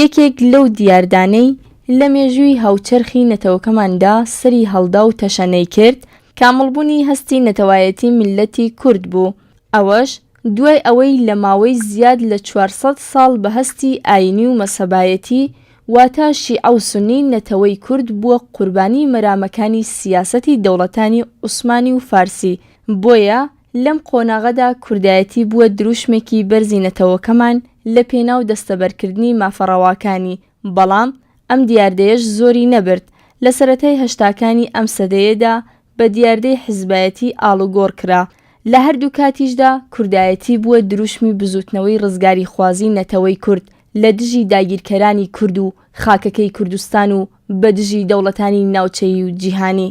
یەکێک لەو دیاردانەی لە مێژووی هاوچەرخی نەتەوەکەماندا سەری هەڵدا و تەشەنەی کرد، کامڵبوونی هەستی نەتەوایەتی میللەتی کورد بوو، ئەوەش دوای ئەوەی لە ماوەی زیاد لە چوار سەد ساڵ بە هەستی ئایینی و مەسەبایەتی واتە شیعە و سوننی نەتەوەی کورد بووە قوربانی مەرامەکانی سیاسەتی دەوڵەتانی عوسمانی و فارسی بۆیە لەم قۆناغەدا کوردایەتی بووە درووشمێکی بەرزی نەتەوەکەمان لە پێناو دەستەبەرکردنی مافە ڕەواکانی، بەڵام ئەم دیاردەیەش زۆری نەبرد، لە سەرەتای هەشتاکانی ئەم سەدەیەدا بە دیاردەی حزبایەتی ئاڵوگۆڕ کرا، لە هەردوو کاتیشدا کوردایەتی بووە درووشمی بزووتنەوەی ڕزگاریخوازی نەتەوەی کورد لە دژی داگیرکەرانی کورد و خاکەکەی کوردستان و بە دژی دەوڵەتانی ناوچەیی و جیهانی.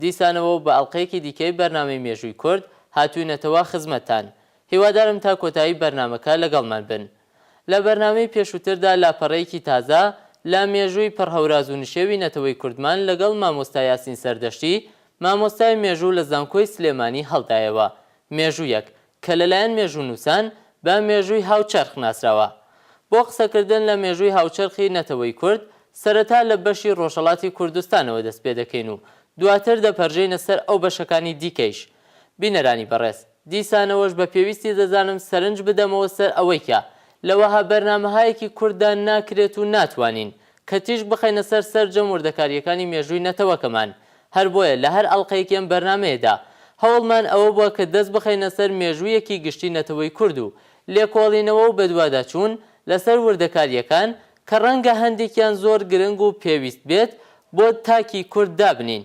دیسانەوە و بە ئەڵقەیەکی دیکەی بەرنامەی مێژووی کورد هاتووینەتەوە خزمەتتان، هیوادارم تا کۆتایی بەرنامەکە لەگەڵمان بن. لە بەرنامەی پێشووتردا لاپەڕەیەکی تازە لە مێژووی پڕ هەوراز و نشێوی نەتەوەی کوردمان لەگەڵ مامۆستا یاسین سەردەشتی مامۆستای مێژوو لە زانکۆی سلێمانی هەڵدایەوە، مێژوویەک کە لەلایەن مێژوونووسان بە مێژووی هاوچەرخ ناسراوە. بۆ قسەکردن لە مێژووی هاوچەرخی نەتەوەی کورد، سەرەتا لە بەشی ڕۆژهەڵاتی کوردستانەوە دەست پێ دەکەین و دواتر دەپەرژێینە سەر ئەو بەشەکانی دیکەیش. بینەرانی بەڕێز، دیسانەوەش بە پێویستی دەزانم سەرنج بدەمەوە سەر ئەوەی کە لە وەها بەرنامەهایەکی کورتدا ناکرێت و ناتوانین کە تیشک بخەینە سەر سەرجەم وردەکارییەکانی مێژووی نەتەوەکەمان، هەر بۆیە لە هەر ئەڵقەیەکی ئەم بەرنامەیەدا هەوڵمان ئەوە بووە کە دەست بخەینە سەر مێژوویەکی گشتی نەتەوەی کورد و لێکۆڵینەوە و بەدواداچوون لەسەر وردەکارییەکان کە ڕەنگە هەندێکیان زۆر گرنگ و پێویست بێت بۆ تاکی کورد دابنێین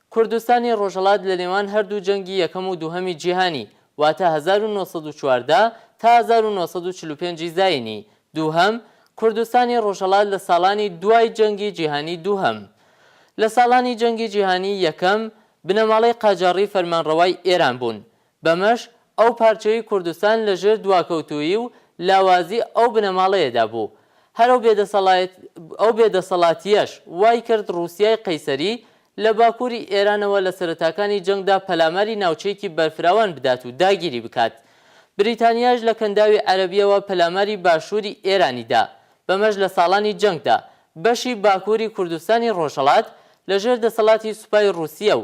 کوردستانی ڕۆژهەڵات لە نێوان هەردوو جەنگی یەکەم و دووهەمی جیهانی، واتە هەزار و نۆ سەد و چواردە تا هەزار و نۆ سەد و چل و پێنج ی زایینی دووهەم، کوردستانی ڕۆژهەڵات لە ساڵانی دوای جەنگی جیهانی دووهەم. لە ساڵانی جەنگی جیهانی یەکەم، بنەماڵەی قاجاڕی فەرمانڕەوای ئێران بوون. بەمەش ئەو پارچەی کوردستان لە ژێر دواکەوتوویی و لاوازی ئەو بنەماڵەیەدا بوو. هەر ئەو بێدەسەڵایەت ئەو بێدەسەڵاتییەش وای کرد ڕووسیای قەیسەری لە باکووری ئێرانەوە لە سەرەتاکانی جەنگدا پەلاماری ناوچەیەکی بەرفراوان بدات و داگیری بکات. بریتانیاش لە کەنداوی عەرەبییەوە پەلاماری باشووری ئێرانی دا. بەمەش لە ساڵانی جەنگدا بەشی باکووری کوردستانی ڕۆژهەڵات لە ژێر دەسەڵاتی سوپای ڕووسیە و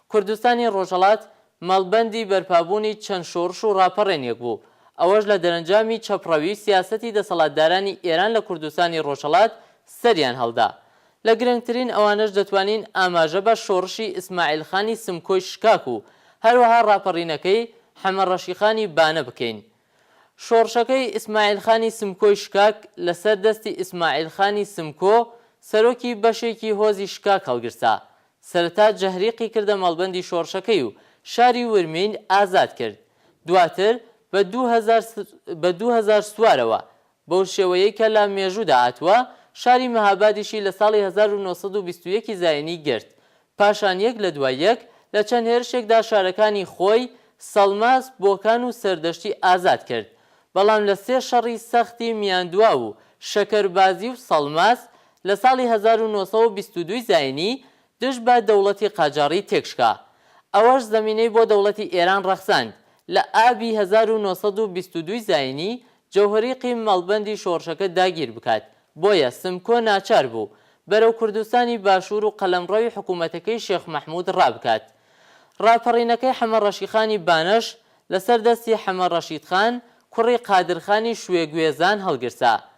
کوردستانی ڕۆژهەڵات مەڵبەندی بەرپابوونی چەند شۆڕش و ڕاپەڕێنێک بوو، ئەوەش لە دەرەنجامی چەپڕەوی سیاسەتی دەسەڵاتدارانی ئێران لە کوردستانی ڕۆژهەڵات سەریان هەڵدا. لە گرنگترین ئەوانەش دەتوانین ئاماژە بە شۆڕشی ئیسماعیل خانی سمکۆی شکاک و هەروەها ڕاپەڕینەکەی حەمە ڕەشیخانی بانە بکەین. شۆڕشەکەی ئیسماعیل خانی سمکۆی شکاک لەسەر دەستی ئیسماعیل خانی سمکۆ سەرۆکی بەشێکی هۆزی شکاک هەڵگرسا، سەرەتا جهریقی کردە مەڵبەندی شۆڕشەکەی و شاری ورمین ئازاد کرد. دواتر بە دوو هەزار بە دوو هەزار سوارەوە، بەو شێوەیەی کە لە مێژوودا هاتووە، شاری مهابادیشی لە ساڵی هەزار و نۆ سەد و بیست و یەک ی زایینی گرت. پاشان یەک لە دوای یەک لە چەند هێرشێکدا شارەکانی خۆی، سەڵماس، بۆکان و سەردەشتی ئازاد کرد. بەڵام لە سێ شەڕی سەختی میاندواو و شەکەربازی و سەڵماس، لە ساڵی هەزار و نۆ سەد و بیست و دوو زاینی دژ بە دەوڵەتی قاجاڕی تێکشکا. ئەوەش زەمینەی بۆ دەوڵەتی ئێران ڕەخساند. لە ئابی هەزار و نۆ سەد و بیست و دوو زاینی جەوهەری قیم مەڵبەندی شۆڕشەکە داگیر بکات، بۆیە سمکۆ ناچار بوو بەرەو کوردستانی باشوور و قەلەمڕەوی حکوومەتەکەی شێخ مەحموود ڕابکات. ڕاپەڕینەکەی حەمە ڕەشیخانی بانەش لەسەر دەستی حەمە ڕەشیدخان کوڕی قادرخانی شوێ گوێزان هەڵگرسا.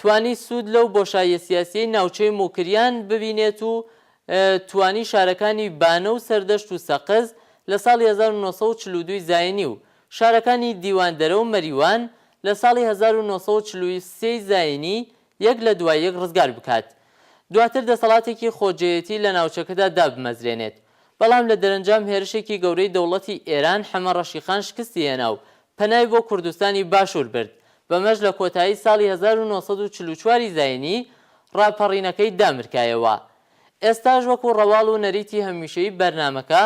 توانی سوود لەو بۆشاییە سیاسییەی ناوچەی موکریان ببینێت و توانی شارەکانی بانە و سەردەشت و سەقز لە ساڵی هەزار و نۆ سەد و چل و دوو زاینی و شارەکانی دیواندەرە و مەریوان لە ساڵی هەزار و نۆ سەد و چل و سێ زاینی یەک لە دوای یەک ڕزگار بکات دواتر دەسەڵاتێکی خۆجێیەتی لە ناوچەکەدا دابمەزرێنێت بەڵام لە دەرەنجام هێرشێکی گەورەی دەوڵەتی ئێران حەمە ڕەشیخان شکستی هێنا و پەنای بۆ کوردستانی باشوور برد، بەمەش لە کۆتایی ساڵی هەزار و نۆ سەد و چل و چوار ی زاینی ڕاپەڕینەکەی دامرکایەوە. ئێستاش وەکو ڕەواڵ و نەریتی هەمیشەیی بەرنامەکە،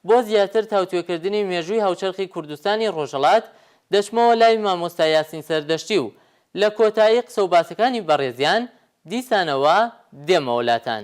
بۆ زیاتر تاوتوێکردنی مێژووی هاوچەرخی کوردستانی ڕۆژهەڵات، دەچمەوە لای مامۆستا یاسین سەردەشتی و لە کۆتایی قسەوباسەکانی بەڕێزیان دیسانەوە دێمەوە لاتان.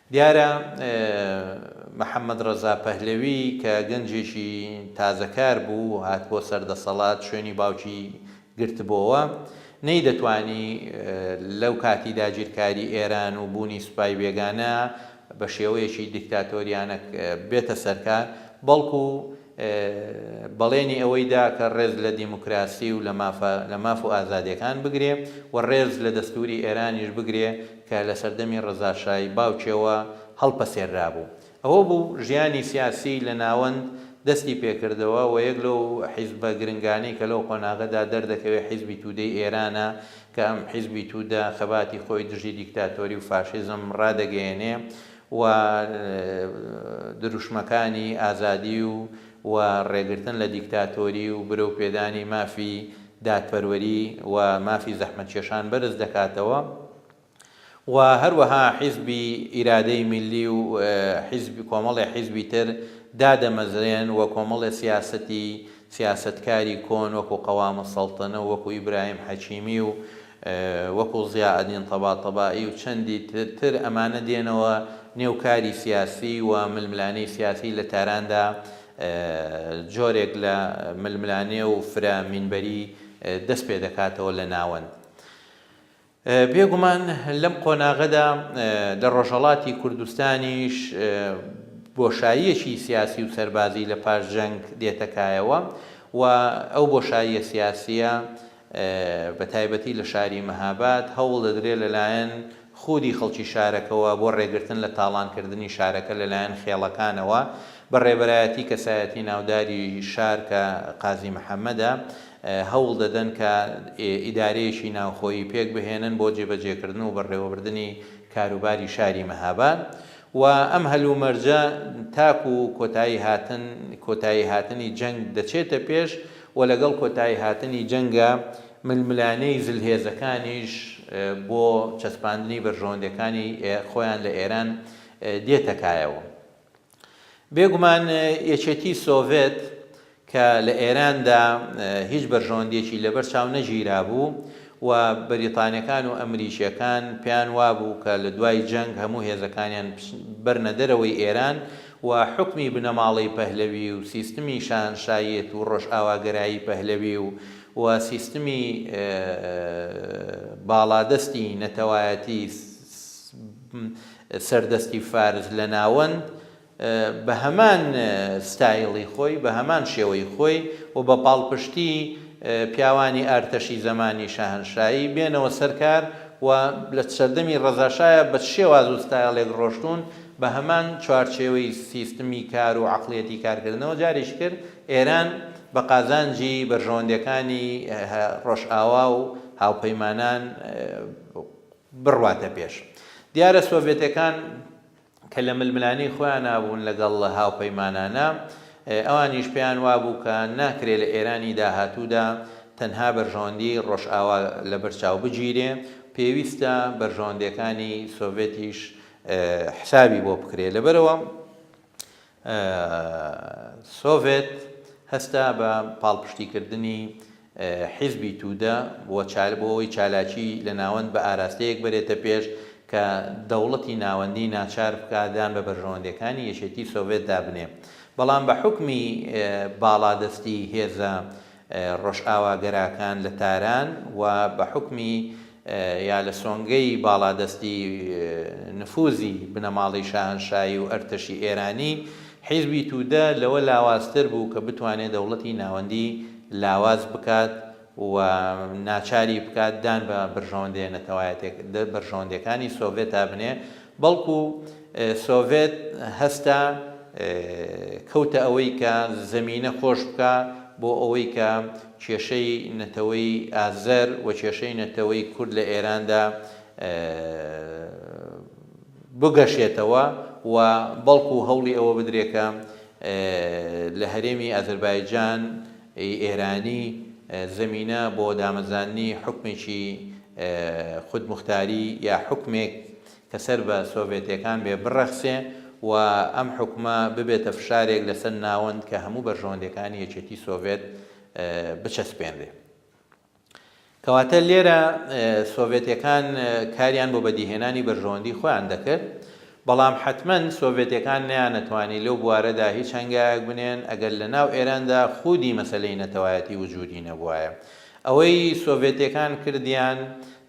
دیارە محەمەد ڕەزا پەهلەوی کە گەنجێکی تازەکار بوو و هاتبووە سەر دەسەڵات، شوێنی باوکی گرتبۆوە، نەیدەتوانی لەو کاتی داگیرکاری ئێران و بوونی سوپای بێگانە بە شێوەیەکی دیکتاتۆریانە بێتە سەرکار، بەڵکوو بەڵێنی ئەوەی دا کە ڕێز لە دیموکراسی و لە ماف و ئازادییەکان بگرێ و ڕێز لە دەستووری ئێرانیش بگرێ کە لە سەردەمی ڕەزا شای باوکییەوە هەڵپەسێررابوو. ئەوە بوو ژیانی سیاسیی لە ناوەند دەستی پێ کردەوە و یەک لەو حیزبە گرنگانەی کە لەو قۆناغە دا دەردەکەوێ حیزبی توودەی ئێرانە کە ئەم حیزبی توودە خەباتی خۆی دژی دیکتاتۆری و فاشیزم ڕادەگەیەنێ و دروشمەکانی ئازادی و و ڕێگرتن لە دیکتاتۆری و برەو پێدانی مافی دادپەروەری و مافی زەحمەتکێشان بەرز دەکاتەوە و هەروەها حیزبی ئیرادەی میللی و حیزب کۆمەڵێ حیزبی تر دادەمەزرێن و کۆمەڵێ سیاسەتی سیاسەتکاری کۆن وەکو قەوام السلطنە و وەکو ئیبراهیم حەکیمی و وەکو ضیائەدین طەباطبائی و چەندی تر تر ئەمانە دێنەوە نێو کاری سیاسی و ململانێی سیاسی لە تاراندا جۆرێک لە ململانێ و فرە مینبەری دەست پێ دەکاتەوە لە ناوەند بێ گومان لەم قۆناغەدا لە ڕۆژهەڵاتی کوردستانیش بۆشاییەکی سیاسی و سەربازی لە پاش جەنگ دێتە کایەوە و ئەو بۆشاییە سیاسیە بە تایبەتی لە شاری مەهاباد، هەوڵ دەدرێت لەلایەن خودی خەڵکی شارەکەوە بۆ ڕێگرتن لە تاڵانکردنی شارەکە لەلایەن خێڵەکانەوە بە ڕێبەرایەتی کەسایەتی ناوداری شار کە قازی محەمەدە هەوڵ دەدەن کە ئیدارەیەکی ناوخۆیی پێک بهێنن بۆ جێبەجێکردن و بەڕێوەبردنی کاروباری شاری مەهاباد و ئەم هەلومەرجە تاکو کۆتایی هاتن کۆتایی هاتنی جەنگ دەچێتە پێش و لەگەڵ کۆتایی هاتنی جەنگە ململانێی زلهێزەکانیش بۆ چەسپاندنی بەرژەوەندیەکانی خۆیان لە ئێران دێتە کایەوە. بێگومان یەکێتی سۆڤێت کە لە ئێراندا هیچ بەرژەوەندیەکی لەبەر چاو نەگیرابوو و بەریتانیەکان و ئەمریکیەکان پێیان وابوو کە لە دوای جەنگ هەموو هێزەکانیان بچ بەرنە دەرەوەی ئێران و حوکمی بنەماڵەی پەهلەوی و سیستمی شاهەنشایەت و ڕۆژئاواگەرایی پەهلەوی و و سیستمی باڵادەستی نەتەوایەتی سەردەستی فارس لە ناوەند بە هەمان ستایڵی خۆی بە هەمان شێوەی خۆی و بە پاڵپشتی پیاوانی ئارتەشی زەمانی شاهەنشایی بێنەوە سەر کار و لە سەردەمی ڕەزاشاە بە چ شێواز و ستایڵێک ڕۆشتوون بە هەمان چوارچێوەی سیستمی کار و عەقڵیەتی کارکردنەوە جارێکی تر ئێران بە قازانجی بەرژەوەندیەکانی ڕۆژئاوا و هاوپەیمانان بڕواتە پێش. دیارە سۆڤێتەکان کە لە ململانێی خۆیانا بوون لەگەڵ هاوپەیمانانا، ئەوانیش پێیان وابوو کە ناکرێ لە ئێرانی داهاتوودا تەنها بەرژەوەندی ڕۆژئاوا لەبەر چاو بگیرێ، پێویستە بەرژەوەندیەکانی سۆڤێتیش حسابی بۆ بکرێت لەبەرئەوە سۆڤێت هەستا بە پاڵپشتی کردنی حیزبی تودە بۆ چال بۆ ئەوەی چالاکی لە ناوەند بە ئاراستەیەک بەرێتە پێش کە دەوڵەتی ناوەندی ناچار بکات دان بە بەرژەوەندەکانی یەکێتی سۆڤێت دابنێ بەڵام بە حوکمی باڵادەستی هێزە ڕۆژئاواگەراکان لە تاران و بە حوکمی یا لە سۆنگەی باڵادەستی نفوزی بنەماڵەی شاهەنشایی و ئەرتەشی ئێرانی، حیزبی تودە لەوە لاوازتر بوو کە بتوانێ دەوڵەتی ناوەندی لاواز بکات و ناچاری بکات دان بە بەرژەوەندێ نەتەوایەتێ بەرژەوەندێکانی سۆڤێتا بنێ بەڵکو سۆڤێت هەستا کەوتە ئەوەی کە زەمینە خۆش بکا بۆ ئەوەی کە کێشەی نەتەوەی ئازەر و کێشەی نەتەوەی کورد لە ئێراندا بگەشێتەوە و بەڵکو هەوڵی ئەوە بدرێ کە لە هەرێمی ئازەربایجان ی ئێرانی زەمینە بۆ دامەزاننی حوکمێکی خودموختاری یا حوکمێک کە سەر بە سۆڤێتیەکان بێ بڕەخسێ و ئەم حوکمە ببێتە فشارێک لەسەر ناوەند کە هەموو بەرژەوەندیەکانی یەکێتی سۆڤێت بچەسپێنرێ. کەواتە لێرە سۆڤێتیەکان کاریان بۆ بەدیهێنانی بەرژەوەندی خۆیان دەکرد بەڵام حتمەن سۆڤێتیەکان نیانەتوانی لەو بوارەدا هیچ هەنگایەک بنێن ئەگەر لە ناو ئێراندا خودی مەسەلەی نەتەوایەتی وجودی نەبوایە ئەوەی سۆڤێتیەکان کردیان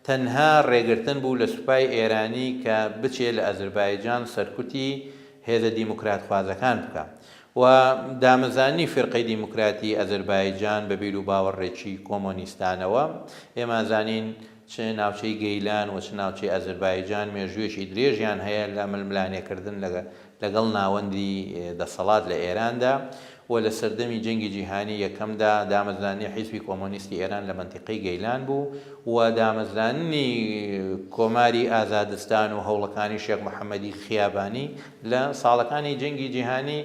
تەنها ڕێگرتن بوو لە سوپای ئێرانی کە بچێ لە ئەزربایجان سەرکوتی هێزە دیموکراتخوازەکان بکا و دامەزانی فیرقەی دیموکراتی ئەزەربایجان بە بیر و باوەڕێکی کۆمۆنیستانەوە. ئێمە ئەزانین چ ناوچەی گەیلان و چ ناوچەی ئەزەربایجان مێژوویەکی درێژیان هەیە لە ململانێکردن لەگەڵ ناوەندی دەسەڵات لە ئێراندا و لە سەردەمی جەنگی جیهانی یەکەمدا دامەزرانی حیزبی کۆمۆنیستی ئێران لە مەنتیقەی گەیلان بوو و دامەزرانی کۆماری ئازادستان و هەوڵەکانی شێخ محەمەدی خیابانی لە ساڵەکانی جەنگی جیهانی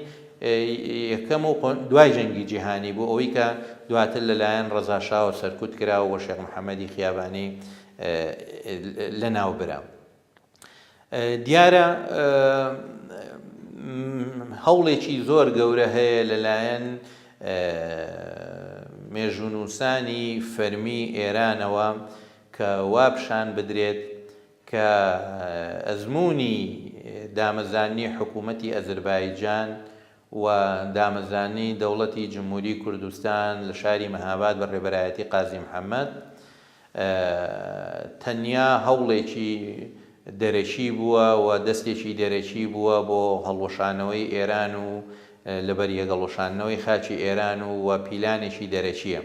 یەکەم و دوای جەنگی جیهانی بوو ئەوەی کە دواتر لەلایەن ڕەزا شاوە سەرکوت کرا و شێخ محەمەدی خیابانی لەناو برا دیارە هەوڵێکی زۆر گەورە هەیە لەلایەن مێژوونووسانی فەرمی ئێرانەوە کە وا پیشان بدرێت کە ئەزموونی دامەزاننی حکوومەتی ئەزربایجان و دامەزاننی دەوڵەتی جمهوری کوردستان لە شاری مەهاباد بە ڕێبەرایەتی قازی محەمەد تەنیا هەوڵێکی دەرەکی بووە و دەستێکی دەرەکی بووە بۆ هەڵوەشانەوەی ئێران و لەبەریەک هەڵوەشاندنەوەی خاکی ئێران و و پیلانێکی دەرەکییە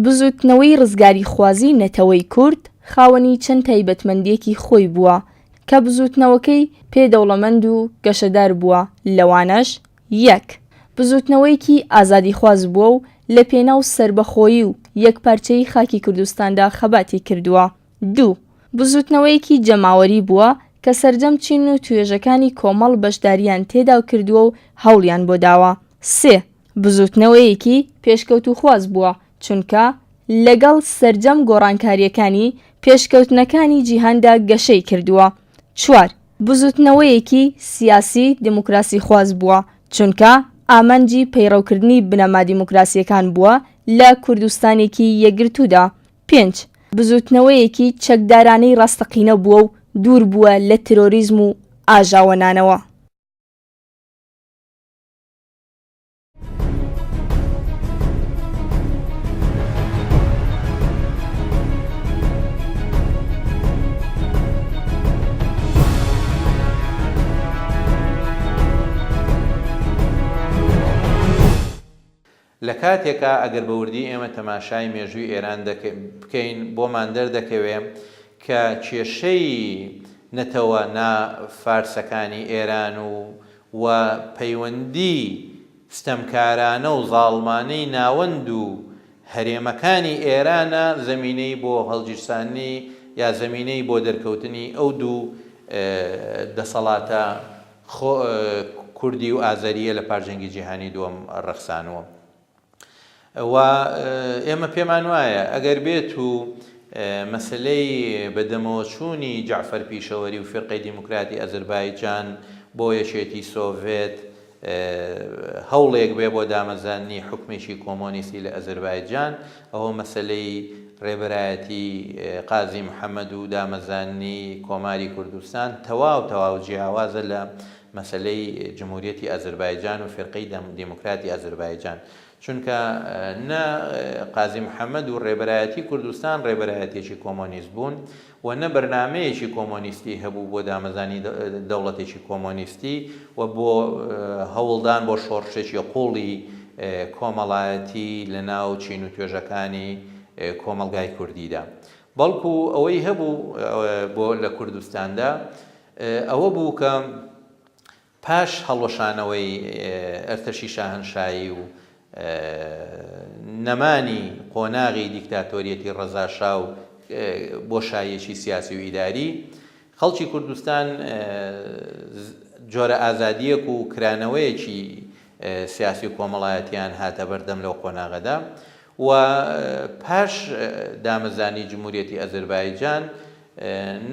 بزووتنەوەی ڕزگاریخوازیی نەتەوەی کورد خاوەنی چەند تایبەتمەندییەکی خۆی بووە کە بزووتنەوەکەی پێ دەوڵەمەند و گەشەدار بووە، لەوانەش، یەک بزووتنەوەیەکی ئازادیخواز بووە و لە پێناو سەربەخۆیی و یەکپارچەیی خاکی کوردستاندا خەباتی کردووە. دوو بزووتنەوەیەکی جەماوەری بووە کە سەرجەم چین و توێژەکانی کۆمەڵ بەشدارییان تێدا کردووە و هەوڵیان بۆ داوە. سێ بزووتنەوەیەکی پێشکەوتووخواز بووە، چونکە لەگەڵ سەرجەم گۆڕانکارییەکانی پێشکەوتنەکانی جیهاندا گەشەی کردووە. چوار، بزووتنەوەیەکی سیاسی دیموکراسیخواز بووە، چونکە ئامانجی پەیڕەوکردنی بنەما دیموکراسییەکان بووە لە کوردستانێکی یەکگرتوودا. پێنج، بزووتنەوەیەکی چەکدارانەی ڕاستەقینە بووە و دوور بووە لە ترۆریزم و ئاژاوەنانەوە. لە کاتێکا ئەگەر بە وردی ئێمە تەماشای مێژووی ئێران بکەین بۆمان دەردەکەوێ کە کێشەی نەتەوە نا فارسەکانی ئێران و و پەیوەندی ستەمکارانە و زاڵمانەی ناوەند و هەرێمەکانی ئێرانە زەمینەی بۆ هەڵگیرساندنی یا زەمینەی بۆ دەرکەوتنی ئەو دوو دەسەڵاتە کوردی و ئازەرییە لە پاش جەنگی جیهانی دووەم ڕەخسانووە. و ئێمە پێمان وایە ئەگەر بێت و مەسەلەی بەدەمەوە چوونی جەعفەر پیشەوەری و فیرقەی دیموکراتی ئەزربایجان بۆ یەکێتی سۆڤێت هەوڵێک بێ بۆ دامەزاننی حکمێکی کۆمۆنیستی لە ئەزربایجان ئەوە مەسەلەی ڕێبەرایەتی قازی محەممەد و دامەزاننی کۆماری کوردستان تەواو تەواو جیاوازە لە مەسەلەی جمهوریەتی ئازربایجان و فیرقەی دەم دیموکراتی ئازربایجان چونکە نە قازی محمد و ڕێبەرایەتی کوردستان ڕێبەرایەتێکی کۆمۆنیست بوون و نە بەرنامەیەکی کۆمۆنیستی هەبوو بۆ دامەزانی دەوڵەتێکی کۆمۆنیستی و بۆ هەوڵدان بۆ شۆڕشێکی قوڵی کۆمەڵایەتی لە ناو چین و توێژەکانی کۆمەڵگای کوردیدا بەڵکو ئەوەی هەبوو بۆ لە کوردستاندا ئەوە بوو کە پاش هەڵوەشانەوەی ئەرتەشی شاهەنشایی و نەمانی قۆناغی دیکتاتۆریەتی ڕەزاشا و بۆشاییەکی سیاسی و ئیداری، خەڵکی کوردستان جۆرە ئازادییەک و کرانەوەیەکی سیاسی و کۆمەڵایەتییان هاتە بەردەم لەو قۆناغەدا و پاش دامەزرانی جموریەتی ئەزەربایجان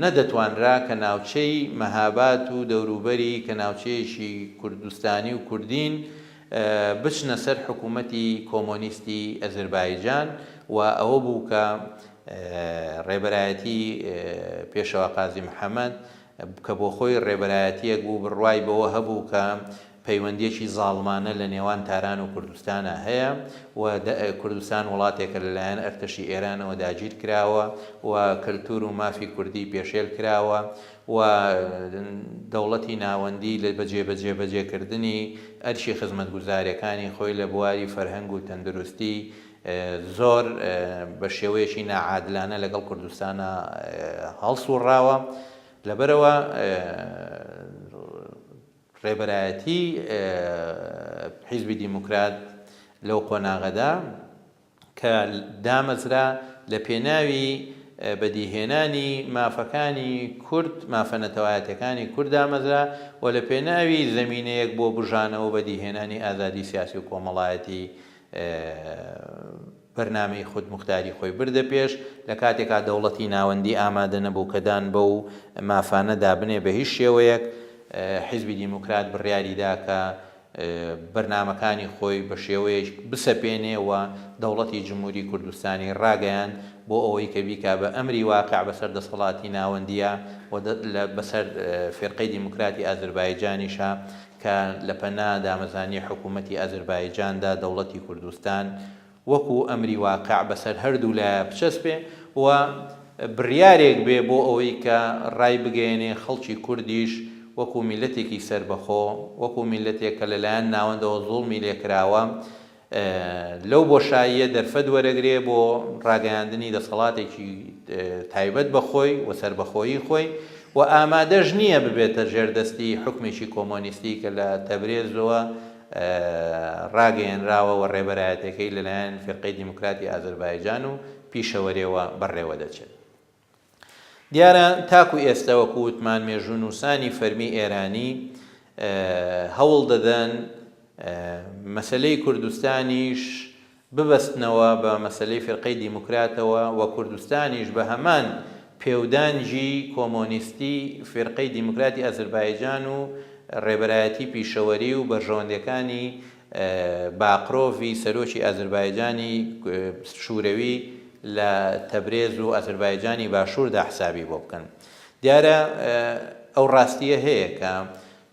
نەدەتوانرا کە ناوچەی مەهاباد و دەوروبەری کە ناوچەیەکی کوردستانی و کوردین بچنە سەر حکوومەتی کۆمۆنیستی ئەزەربایجان و ئەوە بوو کە ڕێبەرایەتی پێشەوا قازی محەمەد کە بۆ خۆی ڕێبەرایەتییەک بوو بڕوای بەوە هەبوو کە پەیوەندییەکی زاڵمانە لە نێوان تاران و کوردستانا هەیە و کوردستان وڵاتێکە لە لایەن ئەرتەشی ئێرانەوە داگیر کراوە و کەلتوور و مافی کوردی پێشێل کراوە و دەوڵەتی ناوەندی لە بە جێبەجێبەجێکردنی ئەرکی خزمەتگوزارییەکانی خۆی لە بواری فەرهەنگ و تەندروستی زۆر بە شێوەیەکی ناعادلانە لەگەڵ کوردستانا هەڵسوڕاوە لەبەرئەوە ڕێبەرایەتی حیزبی دیموکرات لەو قۆناغەدا کە دامەزرا لە پێناوی بەدیهێنانی مافەکانی کورد مافە نەتەوایەتەکانی کورد دامەزرا و لە پێناوی زمینەیەک بۆ بژانەوە بەدیهێنانی ئازادی سیاسی و کۆمەڵایەتی بەرنامەی خودموختاری خۆی بردە پێش، لە کاتێکا دەوڵەتی ناوەندی ئامادە نەبوو کە دان بەو مافانە دا بنێ بە هیچ شێوەیەک، حیزبی دیموکرات بڕیاری دا کە بەرنامەکانی خۆی بە شێوەیەک بسەپێنێ و دەوڵەتی جمهوری کوردستانی ڕاگەیاند بۆ ئەوەی کە بیکا بە ئەمری واقع بە سەر دەسەڵاتی ناوەندیا و بە سەر فیرقەی دیموکراتی ئازربایجانیشا کە لە پەنا دامەزانی حکوومەتی ئازربایجاندا دەوڵەتی کوردستان وەکو ئەمری واقع بەسەر هەردوو لایە بچەسپێ و بڕیارێک بێ بۆ ئەوەی کە ڕای بگەیەنێ خەڵکی کوردیش وەکو میللەتێکی سەربەخۆ، وەکو میللەتێک کە لەلایەن ناوەندەوە زوڵمی لێکراوە، لەو بۆشاییە دەرفەت وەرەگرێ بۆ ڕاگەیاندنی دەسەڵاتێکی تایبەت بە خۆی و سەربەخۆیی خۆی و ئامادەش نییە ببێتە ژێردەستی حوکمێکی کۆمۆنیستی کە لە تەبرێزەوە ڕاگەیەنراوە و ڕێبەرایەتیەکەی لەلایەن فیرقەی دیموکراتی ئازەربایجان و پیشەوەرێوە بەڕێوەدەچێت. دیارە تاکو ئێستا وەکو وتمان مێژوونووسانی فەرمی ئێرانی هەوڵ دەدەن مەسلەی کوردستانیش ببەستنەوە بە مەسلەی فرقەی دیموکراتەوە و کوردستانیش بە هەمان پێودانجی کۆمۆنیستی فرقەی دیموکراتی ئەزربایجان و ڕێبەرایەتی پیشەوەری و بەرژەوەندەکانی باقرۆڤی سەرۆکی ئازربایجانی شورەوی لە تەبرێز و ئازربایجانی باشوردا حسابی بۆ بکەن. دیارە ئەو ڕاستییە هەیە کە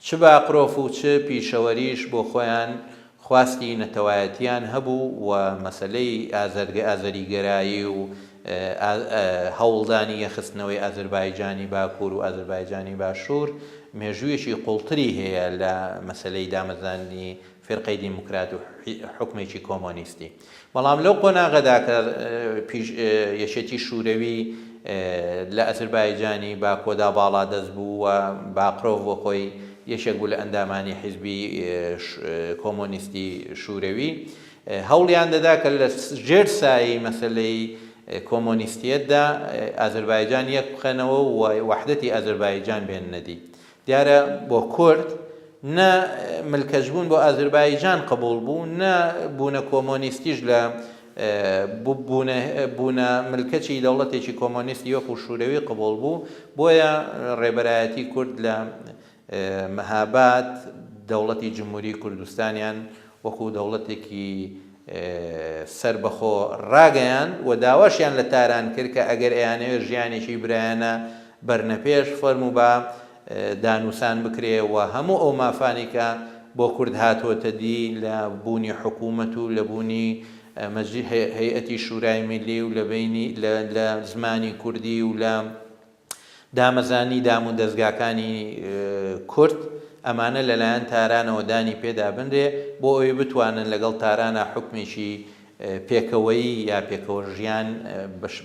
چ باقرۆف و چ پیشەوەریش بۆ خۆیان خواستی نەتەوایەتییان هەبوو و مەسەلەی ئازەریگەرایی و هەوڵدانی یەکخستنەوەی ئازربایجانی باکوور و ئازربایجانی باشوور مێژوویەکی قووڵتری هەیە لە مەسەلەی دامەزراندنی فیرقەی دیموکرات و حوکمێکی کۆمۆنیستی بەڵام لەو قۆناغەدا کە یەکێتی شوورەوی لە ئازربایجانی باکۆدا باڵا دەست بوو و باقرۆڤ بۆ خۆی یەکێک بوو لە ئەندامانی حیزبی کۆمۆنیستی شوورەوی هەوڵیان دەدا کە لە ژێر سایەی مەسەلەی کۆمۆنیستییەتدا ئازەربایجان یەک بخەنەوە و وەحدەتی ئازەربایجان بێننە دی. دیارە بۆ کورد نە ملکەچبوون بۆ ئازەربایجان قبووڵ بوو، نە بوونە کۆمۆنیستیش لە بوونە ملکەچی دەوڵەتێکی کۆمۆنیستی وەکوو شوورەوی قبووڵ بوو، بۆیە ڕێبەرایەتی کورد لە مهاباد دەوڵەتی جمهوری کوردستانیان وەکو دەوڵەتێکی سەربەخۆ راگەیاند و داواشیان لە تاران کرد کە ئەگەر ئەیانەوێت ژیانێکی برایانە بەرنە پێش فەرموو با دانوسان بکرێ و هەموو ئەو مافانەی کە بۆ کورد هاتووەتە دی لە بوونی حکوومەت و لە بوونی هەیئەتی شورای میللی و لە زمانی کوردی و لە دامەزانی دام و دەزگاکانی کورد ئەمانە لەلایەن تارانەوە دانی پێ دابنرێ بۆ ئەوەی بتوانن لەگەڵ تارانا حوکمێکی پێکەوەیی یا پێکەوە ژیان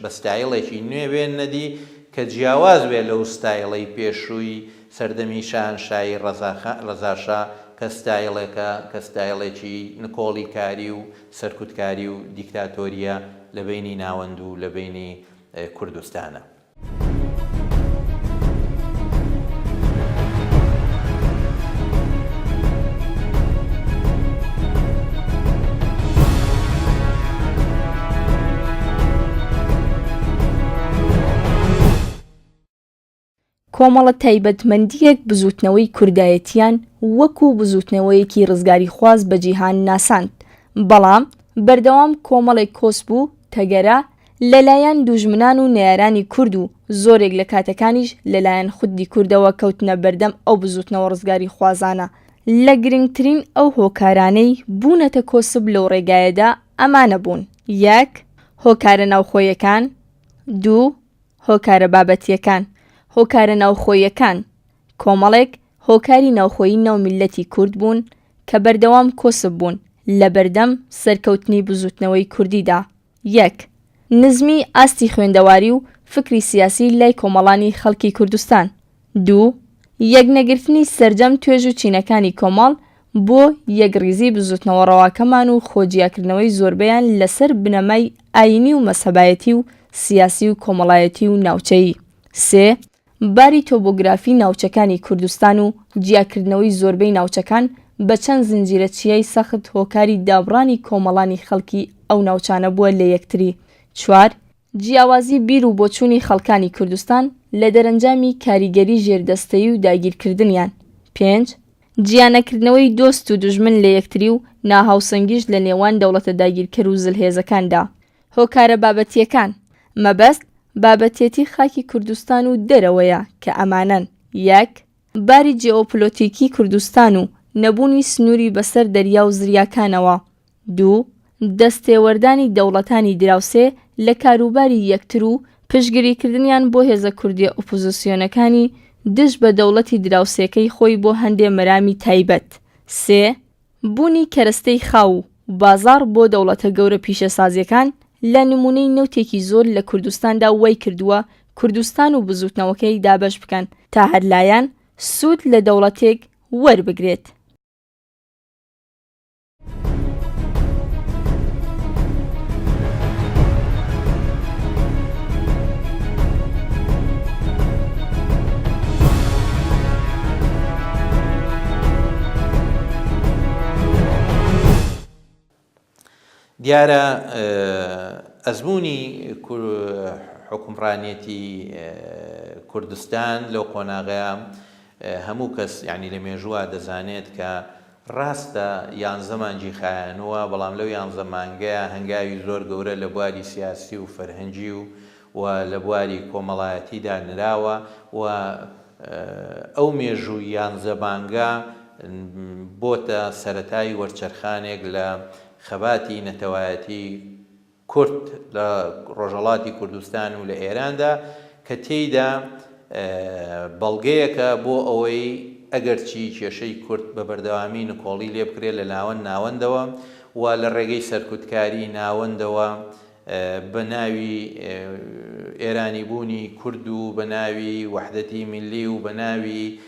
بە ستایڵێکی نوێ بێننە دی کە جیاواز بێ لەو ستایڵەی پێشووی سەردەمی شاهەنشایی ڕەزاشا کە ستایڵێکە کە ستایڵێکی نکۆڵی کاری و سەرکوتکاری و دیکتاتۆریە لە بەینی ناوەند و لە بەینی کوردستانە. کۆمەڵە تایبەتمەندیەک بزوتنەوەی کوردایەتیان وەکو بزوتنەوەیەکی ڕزگاری خواز بە جیهان ناساند بەڵام بەردەوام کۆمەڵێک کۆسب و تەگەرە لەلایەن دووژمنان و نەیارانی کورد و زۆرێک لە کاتەکانیش لەلایەن خودی کوردەوە کەوتنە بەردەم ئەو بزووتنەوە ڕزگاریخوازانە، لە گرنگترین ئەو هۆکارانەی بوونەتە کۆسپ لەو ڕێگایەدا ئەمانە بوون، یەک. هۆکارە ناوخۆیەکان، دوو. هۆکارە بابەتییەکان، هۆکارە ناوخۆییەکان، کۆمەڵێک هۆکاری ناوخۆیی ناو میللەتی کورد بوون کە بەردەوام کۆسپ بوون لەبەردەم سەرکەوتنی بزووتنەوەی کوردیدا، یەک. نزمی ئاستی خوێندەواری و فکری سیاسی لای کۆمەڵانی خەڵکی کوردستان. دوو. یەکنەگرتنی سەرجەم توێژ و چینەکانی کۆمەڵ بۆ یەکڕیزی بزوتنەوە ڕەواکەمان و خۆ جیاکردنەوەی زۆربەیان لەسەر بنەمای ئایینی و مەزهەبایەتی و سیاسی و کۆمەڵایەتی و ناوچەیی. سێ. باری تۆبۆگرافی ناوچەکانی کوردستان و جیاکردنەوەی زۆربەی ناوچەکان بە چەند زنجیرە چیای سەخت هۆکاری دابڕانی کۆمەڵانی خەڵکی ئەو ناوچانە بووە لە یەکتری چوار، جیاوازی بیر و بۆچوونی خەڵکانی کوردستان لە دەرەنجامی کاریگەری ژێردەستەیی و داگیرکردنیان پێنج، جیانەکردنەوەی دۆست و دوژمن لە یەکتری و ناهاوسەنگیش لە نێوان دەوڵەتە داگیرکەر و زلهێزەکاندا هۆکارە بابەتییەکان، مەبەست بابەتێتی خاکی کوردستان و دەرەوەیە کە ئەمانەن، یەک. باری جێئۆپلۆتیکی کوردستان و نەبوونی سنووری بەسەر دەریا و زریاکانەوە. دوو. دەستێوەردانی دەوڵەتانی دراوسێ لە کاروباری یەکتر و پشتگریکردنیان بۆ هێزە کوردییە ئۆپۆزسیۆنەکانی دژ بە دەوڵەتی دراوسێکەی خۆی بۆ هەندێ مەرامی تایبەت. سێ. بوونی کەرەستەی خاو و بازاڕ بۆ دەوڵەتە گەورە پیشەسازیەکان لە نموونەی نەوتێکی زۆر لە کوردستاندا وای کردووە کوردستان و بزووتنەوەکەی دابەش بکەن تا هەر لایەن سوود لە دەوڵەتێک وەربگرێت. دیارە ئەزموونی حوکمڕانیەتی کوردستان لەو قۆناغەیە هەموو کەس یعنی لە مێژووە دەزانێت کە ڕاستە یانزە مانجی خایەنووە بەڵام لەو یانزە مانگەیە هەنگاوی زۆر گەورە لە بواری سیاسی و فەرهەنگی و و لە بواری کۆمەڵایەتیدا نراوە و ئەو مێژوو یان زەبانگە بۆتە سەرەتای وەرچەرخانێک لە خەباتی نەتەوایەتی کورد لە ڕۆژهەڵاتی کوردستان و لە ئێراندا کە تێیدا بەڵگەیەکە بۆ ئەوەی ئەگەرچی کێشەی کورد بە بەردەوامی نکۆڵی لێبکرێت لە ناوەند ناوەندەوە و لە ڕێگەی سەرکوتکاری ناوەندەوە بە ناوی ئێرانی بوونی کورد و بە ناوی وەحدەتی میللی و بە ناوی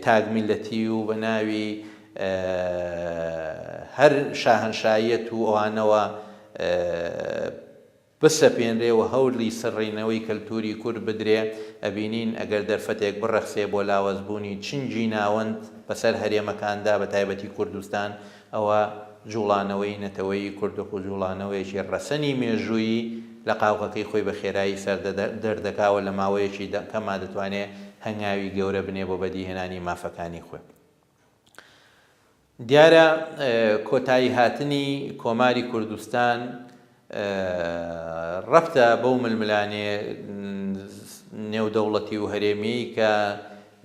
تاک میللەتی و بە ناوی هەر شاهەنشایەت و ئەوانەوە بسەپێنرێ و هەولی سڕینەوەی کەلتووری کورد بدرێ ئەبینین ئەگەر دەرفەتێک بڕەخسێ بۆ لاوەز بوونی چنگی ناوەند بەسەر هەرێمەکاندا بە تایبەتی کوردستان ئەوە جووڵانەوەی نەتەوەیی کوردخ و جووڵانەوەیەکی ڕەسەنی مێژوویی لە قاوغەکەی خۆی بە خێرایی سەر دەردەکا و لە ماوەیەکی دە کەما دەتوانێ هەنگاوی گەورە بنێ بۆ بەدیهێنانی مافەکانی خۆی. دیارە کۆتاییهاتنی کۆماری کوردستان رەبتە بەو ململانێ نێودەوڵەتی و هەرێمیەی کە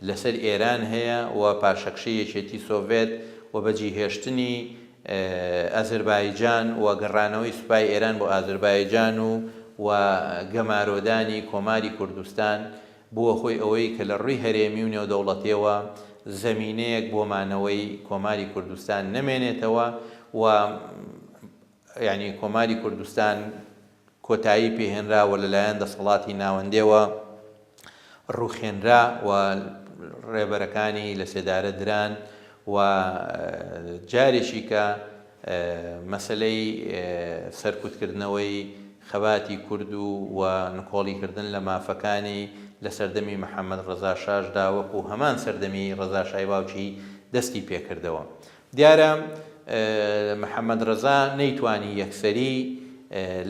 لەسەر ئێران هەیە و پاشەکشەی یەکێتی سۆڤێت و بەجیهێشتنی ئەزربایجان و گەڕانەوەی سوپای ئێران بۆ ئازربایجان و و گەمارۆدانی کۆماری کوردستان بووە هۆی ئەوەی کە لە رووی هەرێمی و نێودەوڵەتیەوە زەمینەیەک بۆ مانەوەی کۆماری کوردستان نەمێنێتەوە و یانی کۆماری کوردستان کۆتایی پێهێنرا و لەلایەن دەسەڵاتی ناوەندێوە ڕووخێنرا و ڕێبەرەکانی لە سێدارە دران و جارێکی کە مەسلەی سەرکوتکردنەوەی خەباتی کورد و و نکۆڵیکردن لە مافەکانی لە سەردەمی محەممەد ڕەزاشاشدا وەکو هەمان سەردەمی ڕەزاشای باوکی دەستی پێکردەوە دیارە محەمەد رەزا نەیتوانی یەکسەری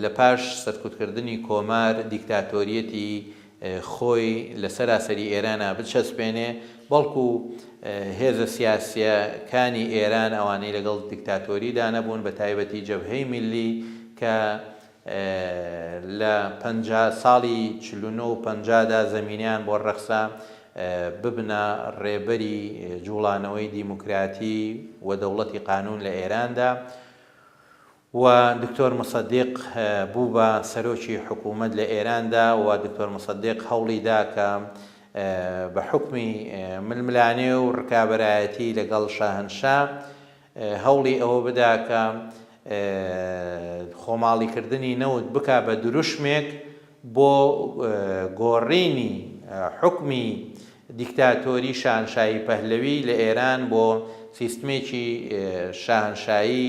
لە پاش سەرکوتکردنی کۆمار دیکتاتۆریەتی خۆی لە سەراسەری ئێرانا بچەسپێنێ، بەڵکو هێزە سیاسیە کانی ئێران ئەوانەی لەگەڵ دیکتاتۆریدا نەبوون بە تایبەتی جەبهەی میللی کە، لە پەنجا ساڵی چل و نۆ و پەنجا دا زەمینەیان بۆ ڕەخسا ببنە ڕێبەری جووڵانەوەی دیموکراتی و دەوڵەتی قانوون لە ئێراندا و دکتۆر موسەدیق بوو بە سەرۆکی حکوومەت لە ئێراندا و دکتۆر موسەدیق هەوڵی دا کە بە حکمی ململانێ و ڕکابەرایەتی لەگەڵ شاهنشا هەوڵی ئەوە بدا کە خۆماڵیکردنی نەوت بکا بە دروشمێک بۆ گۆڕینی حوکمی دیکتاتۆری شاهنشاهی پەهلەوی لە ئێران بۆ سیستمێکی شاهنشاهی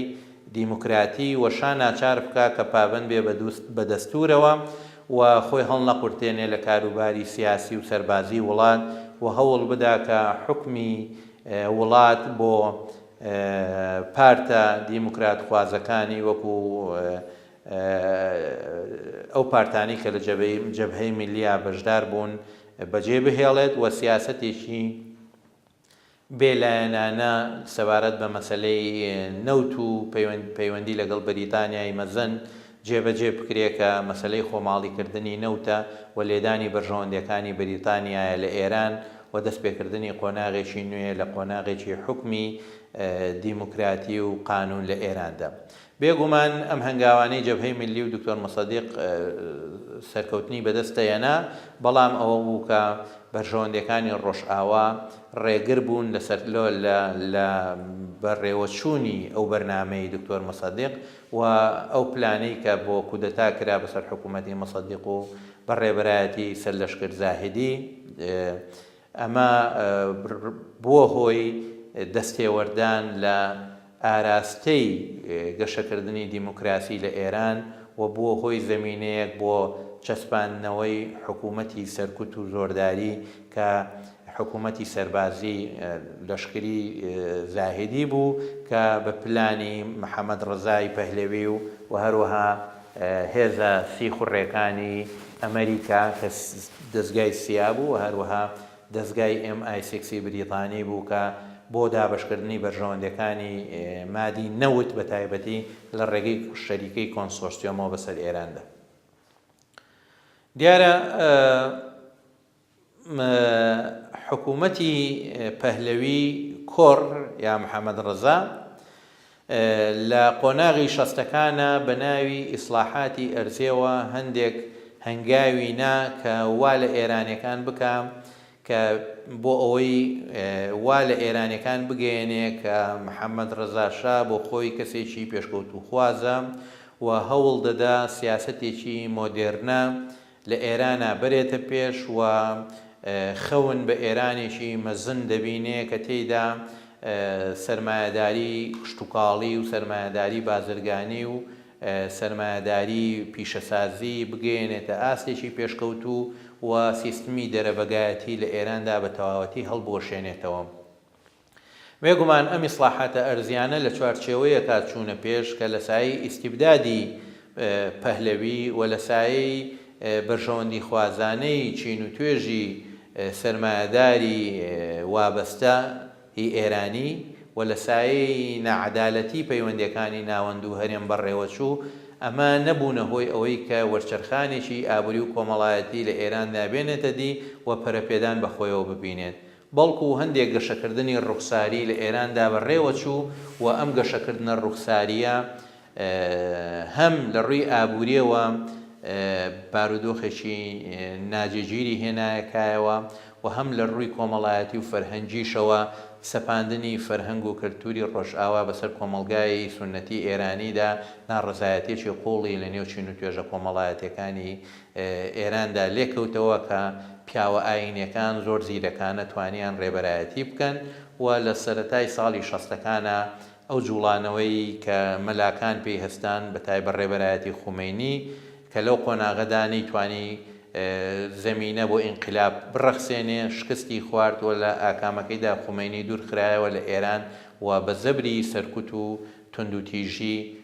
دیموکراتی و شا ناچار بکا کە پابەند بێ بە دەستوورەوە و خۆی هەڵنەقورتێنێ لە کاروباری سیاسی و سەربازی وڵات و هەوڵ بدا کە حوکمی وڵات بۆ پارتە دیموکراتخوازەکانی وەکو ئەو پارتانەی کە لە جەبهەی میللییە بەشدار بوون بەجێ بهێڵێت و سیاسەتێکی بێلایەنانە سەبارەت بە مەسەلەی نەوت و پەیوەندی لەگەڵ بەریتانیای مەزن جێبەجێ بکرێ کە مەسەلەی خۆماڵیکردنی نەوتە و لێدانی بەرژەوەندییەکانی بریتانیایە لە ئێران و دەستپێکردنی قۆناغێکی نوێ لە قۆناغێکی حوکمی دیموکراتی و قانوون لە ئێراندا. بێ گومان ئەم هەنگاوانەی جەبهەی میللی و دکتۆر موسەدیق سەرکەوتنی بەدەست دەهێنا، بەڵام ئەوە بوو کە بەرژەوەندییەکانی ڕۆژئاوا ڕێگر بوون لە سەر لە بەڕێوەچوونی ئەو بەرنامەی دکتۆر موسەدیق و ئەو پلانەی کە بۆ کودەتا کرا بەسەر حکوومەتی موسەدیق و بە ڕێبەرایەتی سەرلەشکر زاهیدی، ئەمە بووە هۆی دەستێوەردان لە ئاراستەی گەشەکردنی دیموکراسی لە ئێران و بووە هۆی زەمینەیەک بۆ چەسپاندنەوەی حکوومەتی سەرکوت و زۆرداری کە حکوومەتی سەربازی لەشکری زاهیدی بوو کە بە پلانی محەمەد ڕەزای پەهلەوی و و هەروەها هێزە سیخوڕێکانی ئەمەریکا کە دەزگای سیا بوو و هەروەها دەزگای ئێم ئای سیکسی بریتانی بوو کە بۆ دابەشکردنی بەرژەوەندییەکانی مادی نەوت بە تایبەتی لە ڕێگەی شەریکەی کۆنسۆرسیۆمەوە بەسەر ئێراندا دیارە حکوومەتی پەهلەوی کۆڕ یا محەمەد ڕەزا لە قۆناغی شەستەکانا بە ناوی ئیسڵاحاتی ئەرزێوە هەندێک هەنگاوی نا کە وا لە ئێرانیەکان بکا کە بۆ ئەوەی وا لە ئێرانیەکان بگەیەنێ کە محەمەد ڕەزا شا بۆ خۆی کەسێکی پێشکەوتووخوازە و هەوڵ دەدا سیاسەتێکی مۆدێرنە لە ئێرانا بەرێتە پێش و خەون بە ئێرانێکی مەزن دەبینێ کە تێیدا سەرمایەداری کشتوکاڵی و سەرمایەداری بازرگانی و سەرمایەداری پیشەسازی بگەیەنێتە ئاستێکی پێشکەوتوو و سیستمی دەرەبەگایەتی لە ئێراندا بە تەواوەتی هەڵبوەشێنێتەوە. بێگومان ئەم ئیسڵاحاتە ئەرزیانە لە چوارچێوەیەکا چوونە پێش کە لە سایەی ئیستیبدادی پەهلەوی و لە سایەی بەرژەوەندیخوازانەی چین و توێژی سەرمایەداری وابەستە ی ئێرانی و لە سایەی ناعەدالەتی پەیوەندیەکانی ناوەند و هەرێم بەڕێوەچوو، ئەمە نەبوونە هۆی ئەوەی کە وەرچەرخانێکی ئابوری و کۆمەڵایەتی لە ئێراندا بێنێتە دی و پەرەپێدان بە خۆیەوە ببینێت بەڵکو هەندێک گەشەکردنی ڕوخساری لە ئێراندا بەڕێوەچوو و ئەم گەشەکردنە ڕوخسارییە هەم لە ڕووی ئابوورییەوە بارودۆخێکی ناجێگیری هێنایەکایەوە و هەم لە ڕووی کۆمەڵایەتی و فەرهەنگیشەوە سەپاندنی فەرهەنگ و کەلتووری ڕۆژئاوا بەسەر کۆمەڵگای سوننەتی ئێرانیدا ناڕەزایەتییەکی قووڵی لە نێو چین و توێژە کۆمەڵایەتییەکانی ئێراندا لێکەوتەوە کە پیاوە ئایینیەکان زۆر زیرەکانە توانیان ڕێبەرایەتی بکەن و لە سەرەتای ساڵی شەستەکانا ئەو جوڵانەوەی کە مەلاکان پێی هەستان بە تایبەت ڕێبەرایەتی خومەینی کە لەو قۆناغەدا نەیتوانی زەمینە بۆ ئینقلاب بڕەخسێنێ شکستی خوارد و لە ئاکامەکەیدا خومەینی دوور خرایەوە لە ئێران و بە زەبری سەرکوت و توندوتیژی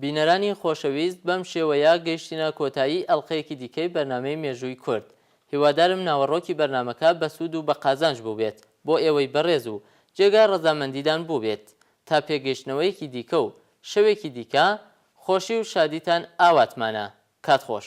بینەرانی خۆشەویست بەم شێوەیە گەیشتینە کۆتایی ئەڵقەیەکی دیکەی بەرنامەی مێژووی کورد هیوادارم ناوەڕۆکی بەرنامەکە بەسوود و بەقازانج بووبێت بۆ ئێوەی بەڕێز و جێگای ڕەزامەندیدان بووبێت تا پێگەیشتنەوەیەکی دیکە و شەوێکی دیکە خۆشی و شادیتان ئاواتمانە کات خۆش.